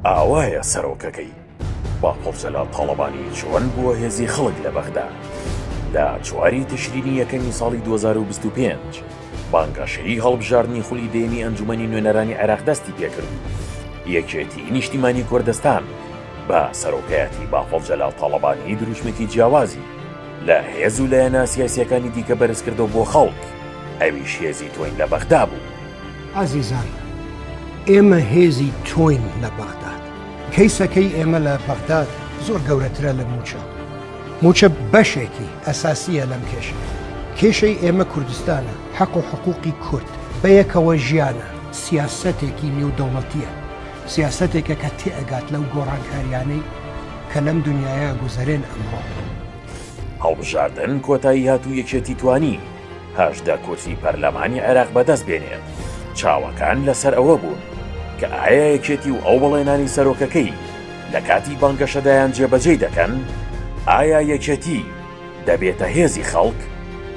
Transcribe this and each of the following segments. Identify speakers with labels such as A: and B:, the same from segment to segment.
A: ئاوایە سەرۆکەکەی باقر جەلال تاڵەبانی چۆن بووە هێزی خەڵک لە بەغدا؟ لە چواری تشرینی یەکەمی ساڵی 2025 بانگەشەی هەڵبژاردنی خولی دەیەمی ئەنجومەنی نوێنەرانی عێراق دەستی پێکرد و یەکێتی نیشتیمانی کوردستان بە سەرۆکایەتی باقر جەلال تاڵەبانی دروشمێکی جیاوازی لە هێز و لایەنە سیاسیەکانی دیکە بەرزکردەوە بۆ خەڵک ئەویش هێزی تۆین لە بەغدا بوو. ئازیزان
B: ئێمە هێزی تۆین لە بەغداد کەیسەکەی ئێمە لە بەغداد زۆر گەورەترە لە مووچە مووچە بەشێکی ئەساسیە لەم کێشە کێشەی ئێمە کوردستانە حەق و حقوقی کورد بەیەکەوە ژیانە سیاسەتێکی نێودەوڵەتیە سیاسەتێکە کە تێئگات لەو گۆڕانکاریانەی کە لەم دنیاە گوزەرێن ئەمڕۆ.
A: هەڵبژاردن کۆتایی هات و یەکێتی توانی. هەژدە کورسی پەرلەمانی عێراق بەدەست بێنێت، چاوەکان لەسەر ئەوە بوون کە ئایا یەکێتی و ئەو بەڵێنانەی سەرۆکەکەی لە کاتی بانگەشەدایان جێبەجێی دەکەن؟ ئایا یەکێتی دەبێتە هێزی خەڵک؟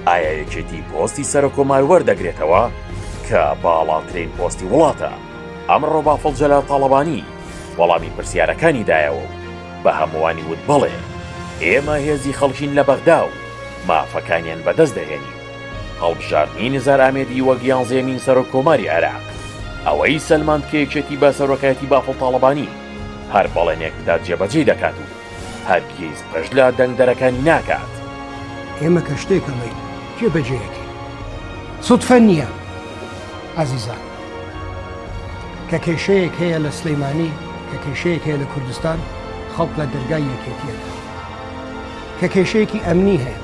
A: ئایا یەکێتی پۆستی سەرکۆمار وەردەگرێتەوە کە باڵاترین پۆستی وڵاتە؟ ئەمڕۆ بافڵ جەلال تاڵەبانی وەڵامی پرسیارەکانی دایەوە و بە هەمووانی وت بەڵێ ئێمە هێزی خەڵکین لە بەغدا و مافەکانیان بەدەست دەهێنین. هەڵبژاردنی نیزار ئامێدی وەک یانزەیەمین سەرۆک کۆماری عێراق ئەوەی سەلماند کە یەکێتی بە سەرۆکایەتی بافڵ تاڵەبانی هەر بەڵێنێک بدات جێبەجێی دەکات و هەرگیز پشت لە دەنگدەرەکانی ناکات. ئێمە کە
B: شتێک ئەڵێین جێ بەجێ ئەکەین سوتفە نیە ئازیزان. کە کێشەیەک هەیە لە سلیمانی کە کێشەیەک هەیە لە کوردستان خەڵک لە دەرگای یەکێتی ئەکات. کە کێشەیەکی ئەمنی هەیە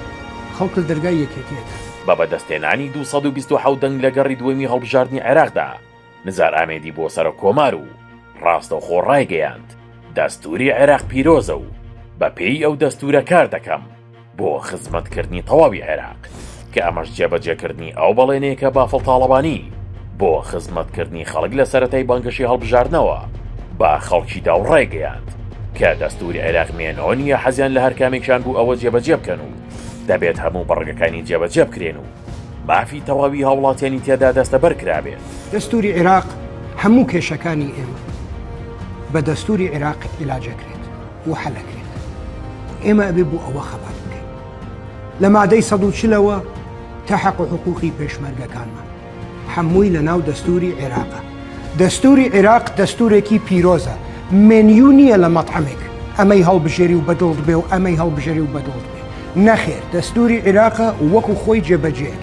B: خەڵک لە دەرگای یەکێتیەکە. بە بەدەستهێنانی
A: دوو سەد و بیست و حەوت دەنگ لە گەڕی دووەمی هەڵبژاردنی عێراقدا، نزار ئامێدی بووە سەرۆککۆمار و ڕاستەوخۆ ڕایگەیاند، دەستووری عێراق پیرۆزە و بەپێی ئەو دەستوورە کار دەکەم بۆ خزمەتکردنی تەواوی عێراق. کە ئەمەش جێبەجێکردنی ئەو بەڵێنەیە کە بافڵ تاڵەبانی بۆ خزمەتکردنی خەڵک لە سەرەتای بانگەشەی هەڵبژاردنەوە بە خەڵکی داو ڕایگەیاند کە دەستوری عێراق مێنۆ نییە حەزیان لە هەرکامێکیان بوو ئەوە جێبەجێ بکەن و دەبێت هەموو بڕگەکانی جێبەجێ بکرێن و مافی تەواوی هاوڵاتیانی تێدا دەستەبەر کرابێت. دەستوری عێراق
B: هەموو کێشەکانی ئێمە بە دەستوری عێراق عیلاج ئەکرێت و حەل ئەکرێت. ئێمە ئەبێ بۆ ئەوە خەبات بکەین. لە مادەی سەد و چل ەوە تا حەق و حقووقی پێشمەرگەکانمان حەمووی لە ناو دەستووری عێراقە دەستووری عێراق دەستوورێکی پیرۆزە مێنیو نییە لە مەتعەمێک ئەمەی هەڵبژێری و بەدڵت بێ و ئەمەی هەڵبژێری و بەدڵت بێ نەخێر دەستووری عێراقە وەکو خۆی جێبەجێ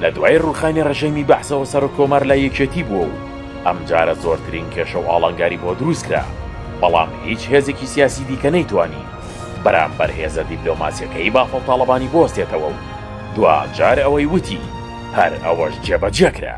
B: لە دوای
A: ڕووخانی ڕژێمی بەعسەوە سەرۆک کۆمار لای یەکێتی بووە و ئەمجارە زۆرترین کێشە و ئاڵنگاری بۆ درووست کرا بەڵام هیچ هێزێکی سیاسی دیکە نەیتوانی بەرامبەر هێزە دیبلۆماسیەکەی بافڵ تاڵەبانی بوەستێتەوە و دواجار ئەوەی وتی هەر ئەوەش جێبەجێکرا.